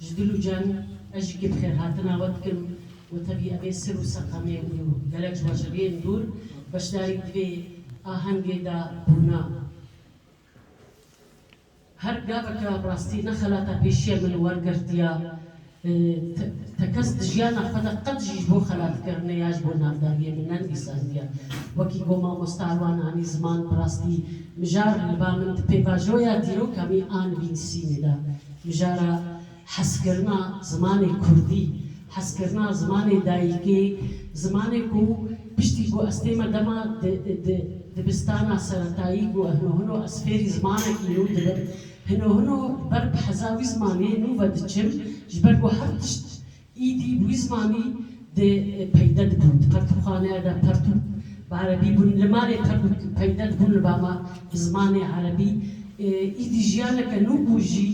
Ji dil û can ez jî kê bi xêrhatina we dikim û tevî evê sir û seqemê û gelek ji weşeviyên dûr beşdarî di vê ahengê de bûna. Her gaveke bi rastî ne xelata pêşiya min wergirtiya te kes di jiyana xwe de qet jî ji bo xelatkirinê ya ji bo navdariyê min nenivîsandiya. Wekî ku mamosta wan anî ziman bi rastî mijar li ba min di pêvajoya dîroka min a nivînsînê de. Mijara hezkirina zimanê kurdî, hezkirina zimanê dayikê, zimanê ku piştî ku ez tê me dema di dibistana seretayî ku hino hino ez fêrî zimanekî nû dibim, hino hino li ber bi heza wî zimanê nû ve diçim ji ber ku her tişt Îdî wî zimanî dê peyde dibûn di pertûkxaneya de pertûk bi erebî bûn li malê pertûk peyde dibûn li ba ma bi zimanê erebî îdî jiyaneke nû bû jî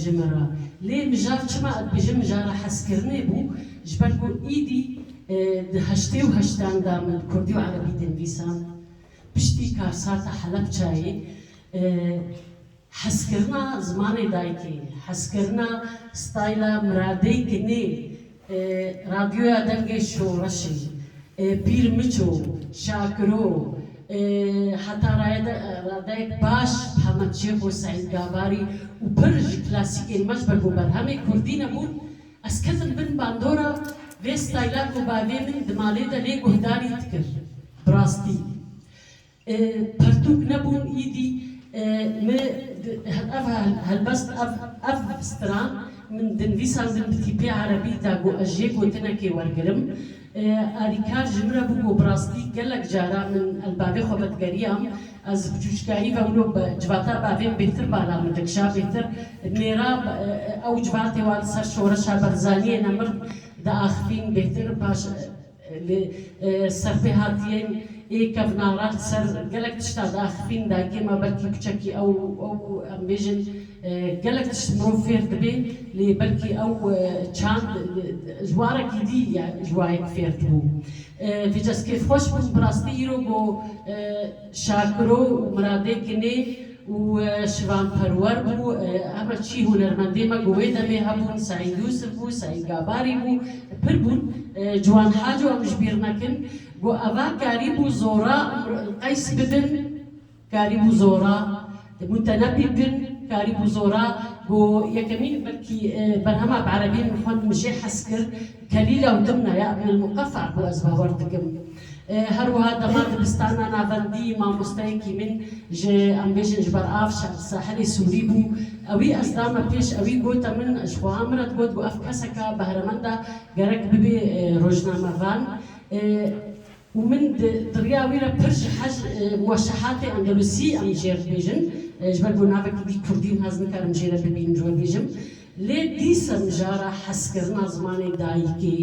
ji min re lê mijar çima ez dibêjim mijara hezkirinê bû ji ber ku îdî di heştê û heştan de min kurdî û erebî dê nivîsand piştî karsata helepçayê Hezkirina zimanê dayikê, hezkirina stayla miradey ke nê Radyoya Delgê Şoreşê, Pîr Miço, Şakiro, heta radeyek baş Hemed Şêxo, Seîd Gabarî û pir ji klasîkên me ji ber ku berhemê kurdî nebûn, ez ketim bin bandora vê stayla ku bavê min di malê de lê guhdarî dikir. Bi rastî. Pertûk nebûn îdî me ev helbest ev stran min di nivîsandin bi tîpê erebî da ku ez jê gotinekê wergirim. Alîkar ji min re bû ku bi rastî gelek caran min li bavê xwe vedigeriyam. Ez ji biçûçikayî ve wilo civata bavê min bêhtir bala min dikişa, bêhtir nêra ew civatê wan li ser şoreşa Berzaniyê ne mir diaxivîn bêhtir paş. Li ser vê hatiyên ê kevna re ser gelek tişta diaxivîn dagê me belkî kuçekî ew ew em bêjin gelek tişt mirov fêr dibê lê belkî ew çand ji warekî dî ya ji wayek fêr dibû. Vêca ez kêfxweş bûm bi rastî îro ku Şakiro û Miradê kinê û şivanperwer bû, heme çî hunermendên me ku wê demê hebûn, Seîd Yûsif bû, Seîd Gabarî bû, pir bûn. Ciwan Haco em ji bîr nekin ku eva karî bû zora qeys bibin, karî bû zora mutenebî bin, karî bû zora ku yekemîn belkî berhema bi erebî min xwend min jê hez kir, Kelîla û Dimna ya Ibn El-Muqeffa bû ez bawer dikim. Her wiha dema dibistana navendî mamosteyekî min ji em bêjin ji ber av sahilê Sûrî bû. Ewî ez dame pêş ewî gote min ji xweha min re digot ku ev keseka behremend e gerek bibê rojnamevan û min di riya wî re pir ji hej muweşehatê Endelusî em jêr dibêjin ji ber ku navekî dî kurdîn hez nikarim jê re bibînim ji we bêjim. Lê dîsa mijara hezkirina zimanê dayikê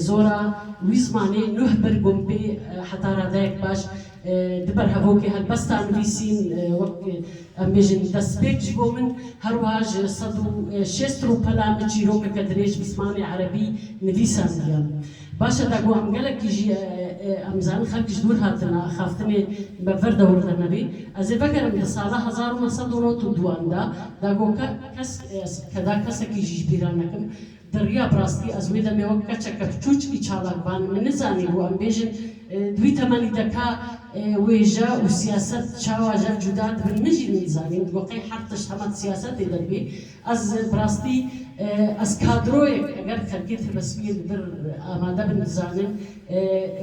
zor a, wî zimanê nuh bir gumpê heta radeyek baş di ber hevokê helbesta nivîsîn wek em bêjin destpêk ji bo min her wiha ji sed û şêst rûpela min çîrokeke dirêj bi zimanê erebî nivîsandiya. Baş e da ku em gelekî jî em zanin xelk ji dûr hatin axaftinê me vir dewr de nebî. Ez ê vegerim di sala hezar û neh sed û nod û duan de da ku kesk ez ke da kesekî jî ji bîr re nekim. Di riya bi rastî ez wê demê wek keçeke piçûçikî çalak ban min nizanî bû em bêjin di wî temenî de ka wêje û siyaset çawa jev cûda dibin min jî nizanîm di ku qey her tişt hema di siyasetê de dibî Ez bi rastî ez kadroyek eger xelkê Têbesmiyê li vir amade bin dizanim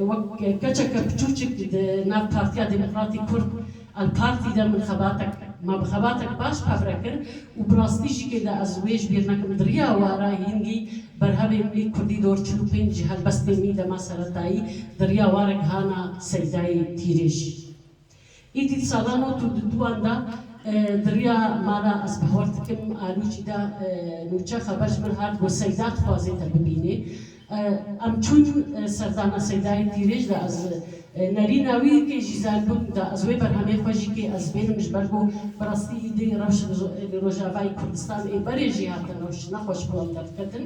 wek keçeke piçûçik di nav Partiya Demokratîk Kurd, Alpartî, de min xebatek ma bi xebatek baş qebre kir û bi rastî jî kê de ez wê ji bîr nekim di riya wara hîngî berhevên wî kurdî dor çil û pênc ji helbestên wî dema seretayî di riya warek hana Seydayê Tîrêj Îdît salan û tûndûtûan da di riya mala ez bihawar dikim Alûcî de nûçe xeber ji min hat ku Seyda dixwazê te bibînê. Em çûn serdana Seydayê Tîrêj de ez nerîna wî kê jî zen bûm da ez wê berhemê xwe jî kê ez bênim ji ber ku bi rastî îdî rewş li Rojavayê Kurdistan ê berê jî hatin rewş ne xweş bû em derdiketin